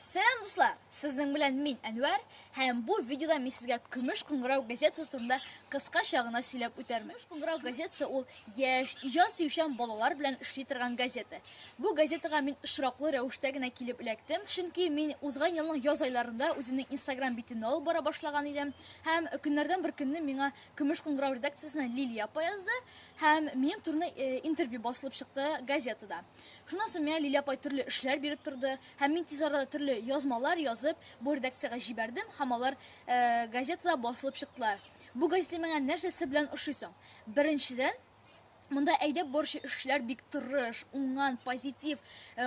Сәлам дуслар! Сезнең белән мин Әнвәр һәм бу видеода мин сезгә Көмеш кыңгырау газетасы турында кыскача гына сөйләп үтәрмен. Көмеш кыңгырау газетасы ул яшь, иҗат сөючән балалар белән эшли торган газета. Бу газетага мин очраклы рәвештә генә килеп эләктем, чөнки мин узган елның яз айларында үземнең Instagram битемне алып бара башлаган идем һәм көннәрдән бер көнне миңа Көмеш кыңгырау редакциясеннән Лилия апа язды һәм минем турында э, интервью басылып чыкты газетада. Шуннан соң миңа Лилия апай төрле эшләр биреп торды, һәм мин тиз арада төрле язмалар язып, бу редакциягә җибәрдем, һәм алар газетада басылып чыктылар. Бу газета миңа нәрсәсе белән ошый соң? Беренчедән, монда әйдәп баручы эшчеләр бик тырыш, уңган, позитив,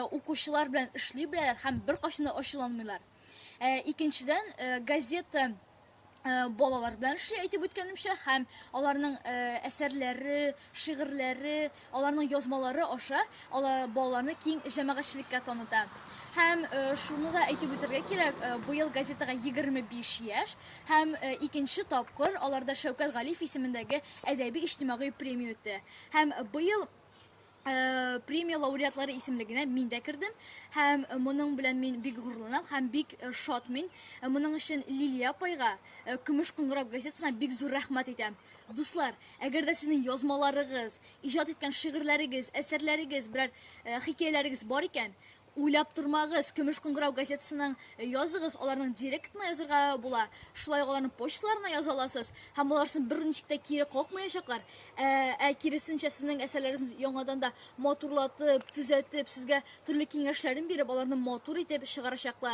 укучылар белән эшли беләләр һәм беркайчан да ачуланмыйлар. Икенчедән, газета Э, балалар белән эшли әйтеп үткәнемчә һәм аларның э, әсәрләре шигырьләре аларның язмалары аша алар балаларны киң җәмәгатьчелеккә таныта һәм э, шуны да әйтеп үтәргә кирәк быел газетага 25 яшь һәм икенче тапкыр аларда шәүкәт галиев исемендәге әдәби-иҗтимагый премия үтте һәм быел премия лауреатлары исемлегенә мин дә кердем һәм моның белән мин бик горурланам һәм бик шат мин моның өчен лилия апайга көмеш кыңгырау газетасына бик зур рәхмәт әйтәм дуслар әгәр дә сезнең язмаларыгыз иҗат иткән шигырьләрегез әсәрләрегез берәр хикәяләрегез бар икән Уйлап тормагыз, Көмеш кыңгырау газетасының языгыз, аларның директорына язырга була, шулай ук аларның почталарына яза аласыз, һәм алар сезне берничек тә кире какмаячаклар, ә, ә киресенчә, сезнең әсәрләрегез яңадан да матурлатып, төзәтеп, сезгә төрле киңәшләрен биреп, аларны матур итеп чыгарачаклар.